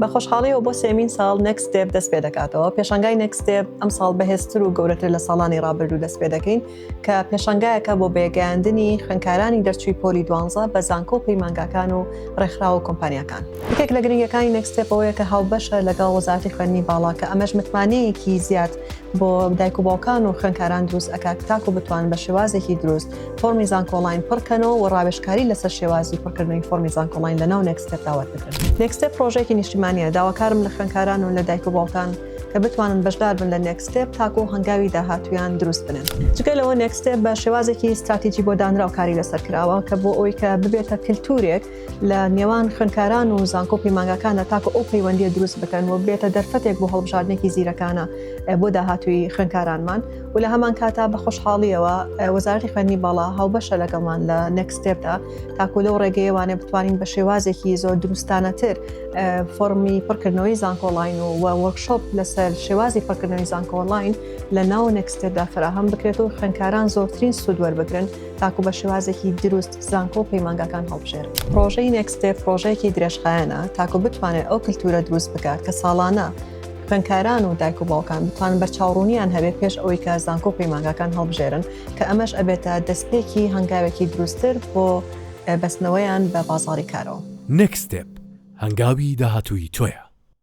بە خۆشحاڵیەوە بۆ سێمین ساڵ نکس دێب دەست پێ دەکاتەوە پێشنگای نکس دێب ئەم ساڵ بەهێزتر و گەورەتر لە ساڵانی ڕابردوو دەست پێ دەکەین کە پێشنگایەکە بۆ بێگەیاندنی خوێنکارانی دەرچووی پۆلی دوانزە بە زانکۆ و پەیمانگاکان و ڕێکخراوە و کۆمپانیەکان یەکێک لە گرنگەکانی نکسێپەوەیە کە هاوبەشە لەگەڵ وەزارتی خوێندنی باڵا کە ئەمەش متمانەیەکی زیاد بۆ دایک و باوکان و خوێنکاران دروست ئەکات تاکو بتوان بە شێوازێکی دروست فۆرمی زانکۆڵین پڕکەنەوە و ڕاوێشکاری لەسەر شێوازی پڕکردنەوەی فۆرمی زانکۆڵین لە ناو نێکستێپ داوات بکەن نێکستێپ پرۆژێکی نیشتیمانە داواکارم لە خوێنکاران و لە دایک و باوکان کە بتوانن بەشدار بن لە نێکستێپ تاکو و هەنگاوی داهاتویان دروست بنن جگە لەوە نێکستێپ بە شێوازێکی استراتیجی بۆ دانراو کاری لەسەر کراوە کە بۆ ئەوی کە ببێتە کللتورێک لە نێوان خوێنکاران و زانکۆ پەیمانگاکانە تاکو ئەو پەیوەندی دروست بکەن و بێتە دەرفەتێک بۆ هەڵبژاردنێکی زیرەکانە بۆ داهاتوی خوێنکارانمان و لە هەمانکاتدا بە خۆشحاڵییەوە وەزارەتی خوێندنی باڵا هاوبەشە لەگەڵمان لە نێکست ستێپدا تاکو لەو ڕێگەیە وانێ بتوانین بە شێوازێکی زۆر دروستانەتر فۆرمی پڕکردنەوەی زانکۆڵین و وەرکشۆپ لەسەر شێوازی پڕکردنەوەی زانکۆڵین لە ناو نێکستێدا فراهەم بکرێت و خوێندکاران زۆرترین سوود وەربگرن تاکو بە شێوازێکی دروست زانکۆ و پەیمانگاکان هەڵبژێر پرۆژەی نێکستێ پرۆژەیەکی درێژخایەنە تاکو بتوانێت ئەو کللتورە دروست بکات کە ساڵانە خوێندکاران و دایک و باوکان بتوانن بەرچاوڕوونیان هەبێت پێش ئەوەی کە زانکۆ و پەیمانگاکان هەڵبژێرن کە ئەمەش ئەبێتە دەستپێکی هەنگاوێکی دروستتر بۆ بەستنەوەیان بە بازاڕی کارەوە. Next Step، هەنگاوی داهاتووی تۆیە.